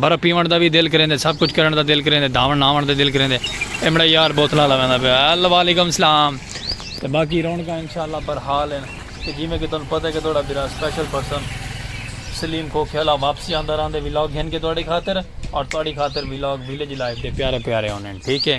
برف پیوݨ دا وی دل کریندے سب کچھ کرݨ دا دل کریندے دھاوݨ نہاوݨ دا دل کریندے اے مڑا یار بوتلاں آلا ویندا پیا ہیلو وعلیکم السلام تے باقی رونقاں انشاءاللہ برحال ہن تے جیویں کہ تہاݙوں پتہ ہے کہ تہاݙا بھرا اسپیشل پرسن سلیم کھوکھیالہ واپسی آندا رہندے ولاگ گھن کے تہاݙی خاطر اور تہاݙی خاطر ولاگ ولیج لائف دے پیارے پیارے ہوندے ہن ٹھیک ہے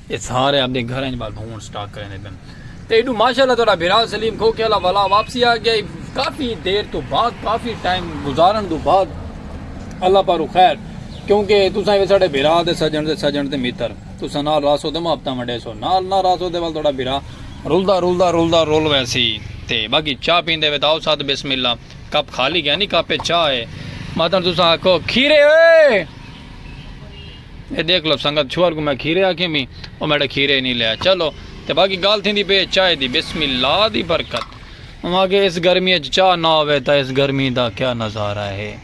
اے سارے آپدے گھراں اچ ٻال بھونڑ سٹاک کریندے پن تے ایڈو ماشاءاللہ تہاڈا بھرا سلیم کھوکھے آلا ولا واپسی آ گیا ای کافی دیر توں بعد کافی ٹائم گزارن توں بعد اللہ پاروں خیر کیونکہ تساں وی ساڈے بھرا تے سجن تے سجن تے متر تساں نال راسو تے محبتاں ونڈیسو نال نہ راسو تے ول تہاڈا بھرا رلدا رلدا رلدا رل ویسی تے باقی چاہ پیندے وے تاؤ ساتھ بسم اللہ کپ خالی گیا نی کپ اچ چاہ اے ماتن تساں آکھو کھیرے اوئے اے ݙیکھ لو سنگت چھوہر کوں میں کھیرے آکھیں پی او میݙا کھیرے نی لیا چلو تے باقی گالھ تھیندی پی اے چائے دی بسم اللہ دی برکت اوں آکھے اس گرمی اچ چاہ نہ ہووے تاں اس گرمی دا کیا نظارہ ہے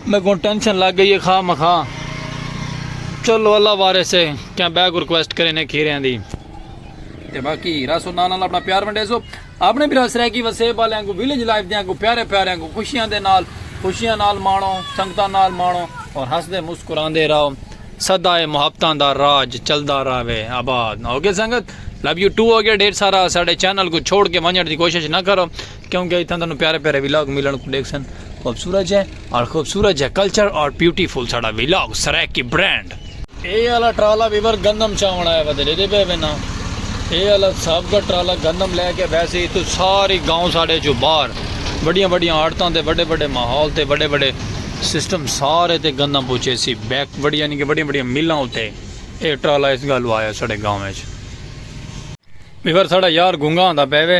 میکوں ٹینشن لگ گئی اے خواہ مخواہ چلو اللہ وارث ہے کیا بیک ریکویسٹ کرینے کھیریاں دی تے باقی رسو نال نال اپنا پیار ونڈیسو اپݨے بھرا سرائیکی وسیب آلیاں کوں ویلیج لائف دیاں کوں پیارے پیاریاں کوں خوشیاں دے نال خوشیاں نال ماݨو سنگتاں نال ماݨو اور ہسدے مسکراندے رہو سدائے محبتاں دا راج چلدا رہوے آباد اوکے سنگت لو یو ٹو ہو گیا ڈھیر سارا ساڈے چینل کو چھوڑ کے ونجڑ دی کوشش نہ کرو کیونکہ اتھاں تانوں پیارے پیارے ویلاگ ملن کو ڈیکھ سن خوبصورت ہے اور خوبصورت ہے کلچر اور بیوٹیفل ساڈا ویلاگ سرائیکی برانڈ اے آلا ٹرالا ویور گندم چاون آیا ودے لے دے بے بے نا اے آلا سب کا ٹرالا گندم لے کے بیسے ہی تو ساری گاؤں ساڑے جو بار بڑیاں بڑیاں آڑتاں تے بڑے بڑے ماحول تے بڑے بڑے سسٹم سارے تے گندم پوچھے سی بیک بڑی یعنی کہ بڑی بڑی ملاں ہوتے اے ٹرالا اس گالو آیا ساڑے گاؤں ہے ویور ساڑا یار گنگا آندہ پہ وے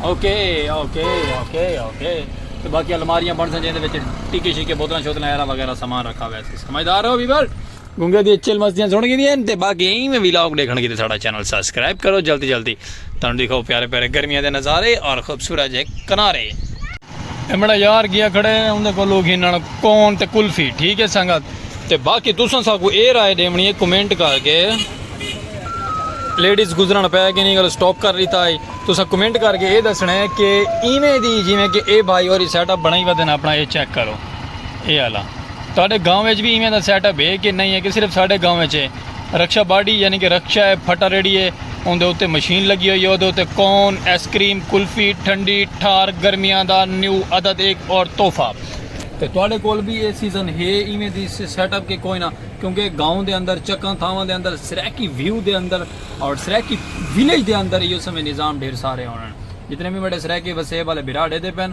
اوکے اوکے اوکے اوکے تے باقی الماریاں بن سن جیندے وچ ٹکے شکے بوتلاں شوتلاں ایرا وغیرہ سامان رکھا ہوا ہے سمجھدار ہو ویور گنگے دی چل مستیاں سن گئی ہیں تے باقی ایں میں ویلاگ دیکھن کی تے ساڈا چینل سبسکرائب کرو جلدی جلدی تانوں دکھاؤ پیارے پیارے گرمیاں دے نظارے اور خوبصورت جے کنارے امڑا یار گیا کھڑے ہیں اندے کو لوگ ہی نڑ کون تے کلفی ٹھیک ہے سنگت تے باقی تساں سا کو اے رائے دیونی ہے کمنٹ کر کے لیڈیز گزرن پہ کہ نہیں گل سٹاپ کر لیتا ہے تساں کمنٹ کر کے اے دسنا ہے کہ ایویں دی جی میں کہ اے بھائی اور سیٹ اپ بنائی ودن اپنا اے چیک کرو اے اللہ تہاڈے گاؤں وچ بھی ایویں دا سیٹ اپ ہے کہ نہیں ہے کہ صرف ساڈے گاؤں وچ ہے رکشہ باڈی یعنی کہ رکشہ ہے پھٹا ریڑھی ہے اوندے اتے مشین لگی ہوئی ہے اودے اتے کون ایس کریم کلفی ٹھنڈی ٹھار گرمیاں دا نیو عدد ایک اور تحفہ۔ تے تواڈے کول وی اے سیزن ہے ایویں دی سیٹ اپ کے کوئی نہ کیونکہ گاؤں دے اندر چکاں تھاواں دے اندر سرائیکی ویو دے اندر اور سرائیکی ویلیج دے اندر ایو سمے نظام ڈھیر سارے ہونن جتنے وی میڈے سرائیکی وسیب والے بھرا ڈیدے پن۔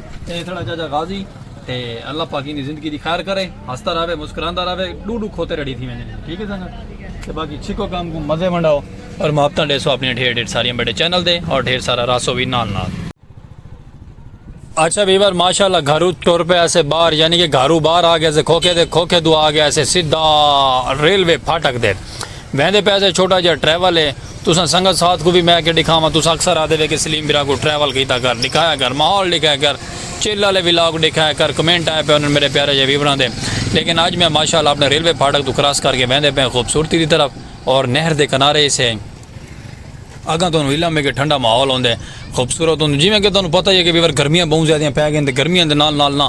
اے ساڑا چاچا غازی تے اللہ پاک ایندی زندگی دی خیر کرے ہستا رہوے مسکراندا رہوے ڈو ڈو کھوتے ریڈی تھی ویندے نے ٹھیک ہے سنگت تے باقی چھکو کام کو مزے ونڈاؤ اور محبتاں ڈیسو اپنی ڈھیر ڈھیر ساری میڈے چینل دے اور ڈھیر سارا راسو وی نال نال اچھا ویور ماشاءاللہ گھرو ٹر پہ ایسے باہر یعنی کہ گھرو باہر آ گیا سے کھوکے دے کھوکے دو آ گیا سے سیدھا ریلوے پھاٹک دے ویندے پئے سے چھوٹا جیہا ٹریول ہے تساں سنگت ساتھ کوں وی میں کے ڈکھاواں تساں اکثر آدھے وے کے سلیم برا کوں ٹریول کیتا کر ڈکھایا کر ماحول ڈکھایا کر چل آلے ولاگ ڈکھایا کر کمنٹ آئے پئے ہن میڈے پیارے جیہے ویوراں دے لیکن اج میں ماشاءاللہ اپنے ریلوے پھاٹک توں کراس کر کے ویندے پئے خوبصورتی دی طرف اور نہر دے کنارے اس ہے اگاں تہانوں علم ہے کے ٹھنڈا ماحول ہوندے خوبصورت ہوندے جیویں کے تہانوں پتہ ہی ہے کے ویور گرمیاں بہوں زیادہ پئے گئین تے گرمیاں دے نال نال نہ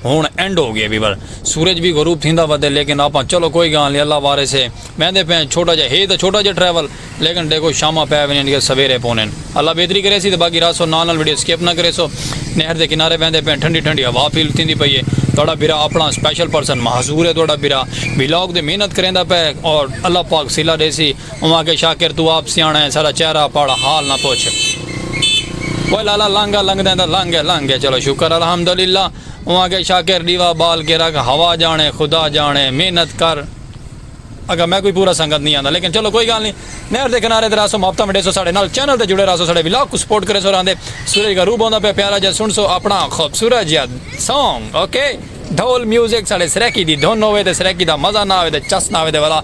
ہنڑ اینڈ ہو گئے ویور۔ سورج وی غروب تھیندا ودے لیکن آپاں چلو کوئی گالھ نی اللہ وارث ہے ویندے پئے ہیں چھوٹا جئے ہے تاں چھوٹا جئے ٹریول لیکن ڈیکھو شاماں پئے ونجن گئے سویرے پونن اللہ بہتری کریسی تے باقی رہسو نال نال ویڈیو سکپ نہ کریسو نہر دے کنارے ویندے پئے ہیں ٹھنڈی ٹھنڈی ہوا فیل تھیندی پئی ہے تہاڈا بھرا اپنا اسپیشل پرسن معذور ہے تہاڈا بھرا ولاگ تے محنت کریندا پئے ہے اور اللہ پاک صلہ ڈیسی۔ اوں آکھیا شاکر توں آپ سیاݨا ہیں ساݙا چہرہ پڑھ حال نہ پچھ اوئے لالا لانگھا لنگھدیں تاں لنگھ گئے لنگھ گئے چلو شکر الحمدللہ اوں آکھیا شاکر ݙیوا ٻال کے رکھ ہوا ڄاݨے خدا ڄاݨے محنت کر اگاں میکوں وی پورا سنگت نی آندا لیکن چلو کوئی گالھ نی نہر دے کنارے تے رہسوں محبتاں ونڈیسوں ساݙے نال چینل تے جڑے رہسوں ساݙے ولاگ کوں سپورٹ کریسوں رہندے سورج غروب ہوندا پئے پیارا جیہا سݨسوں اپݨا خوبصورت جیہا سانگ اوکے ڈھول میوزک ساݙے سرائیکی دی دھن ہووے تے سرائیکی دا مزہ نہ آوے تے چس نہ آوے تے ولا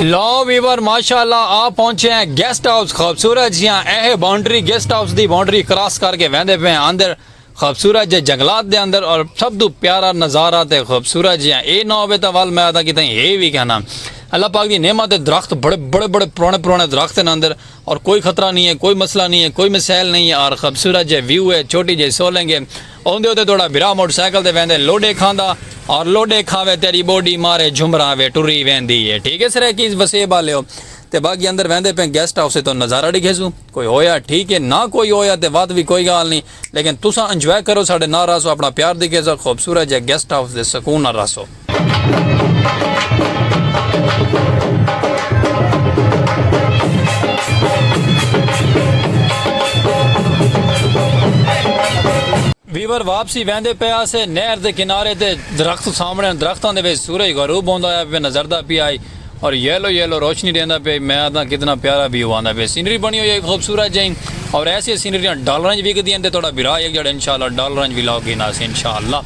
لو ویور ماشاءاللہ آ پہنچے ہیں گیسٹ ہاؤس خوبصورت جیاں اے باؤنڈری گیسٹ ہاؤس دی باؤنڈری کراس کر کے ویندے پہ اندر خوبصورت جے جنگلات دے اندر اور سب تو پیارا نظارہ تے خوبصورت جیاں اے نہ ہوے تا ول میں ادا کیتا ہے وی کہنا اللہ پاک دی نعمت درخت بڑے بڑے بڑے پرانے پرانے درخت ہیں اندر اور کوئی خطرہ نی ہے کوئی مسئلہ نی ہے کوئی مسائل نی ہے اور خبصورت جے ویو ہے چھوٹی جے سولنگ ہے اوندے اتے توڑا بھرا موٹر سائیکل تے ویندے لوڈے کھاندا اور لوڈے کھاوے تیڈی بوڈی مارے جھمراں وے ٹری ویندی ہے ٹھیک ہے سرائیکیز وسیب آلیو تے باقی اندر ویندے پیں گیسٹ ہاؤس توں نظارہ ڈکھیسوں کوئی ہویا ٹھیک ہے نا کوئی ہویا تے وات وی کوئی گال نی لیکن تساں انجوائے کرو ساڈے نال رہسو اپنا پیار دی گیزو خوبصورت جے گیسٹ ہاؤس دے سکون نال ویور واپسی ویندے پے آسے نہر دے کنارے تے درخت سامنے درختاں دے وچ سورج غروب ہوندا ہویا پیا نظردہ پیا آئی اور یلو یلو روشنی ڈیندا پئے میں آدھاں کتنا پیارا ویو آندا پئے سینری بنی ہوئی ہے خوبصورت جئی اور ایسی سینریاں ڈالراں اچ وکدی ہن تے تہاڈا بھرا ہک جڑا انشاءاللہ ڈالراں اچ وی لاک گھن آسی انشاءاللہ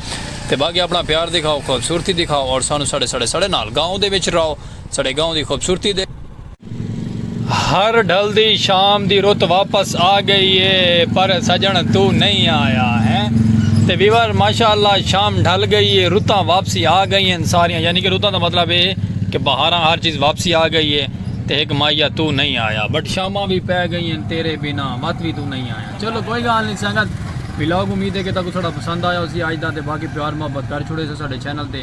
تے باقی اپنا پیار دکھاؤ خوبصورتی دکھاؤ اور سانو ساڈے ساڈے ساڈے نال گاؤں دے وچ راؤ ساڈے گاؤں دی خوبصورتی دے ہر ڈھلدی شام دی رت واپس آ گئی اے پر سجݨ تو نئیں آیا ہیں تے ویور ماشاء اللہ شام ڈھل گئی اے رتاں واپسی آ گئی ہن ساریاں یعنی کہ رتاں دا مطلب اے کہ بہاراں ہر چیز واپسی آ گئی اے تے ہک ماہیا تو نئیں آیا بٹ شاماں وی پے گئی ہن تیرے بنا وت وی تو نئیں آیا چلو کوئی گال نئیں سنگت ولاگ امید اے کہ تہاکوں ساڈا پسند آیا ہوسی اج دا تے باقی پیار محبت کر چھوڑے سو ساڈے چینل تے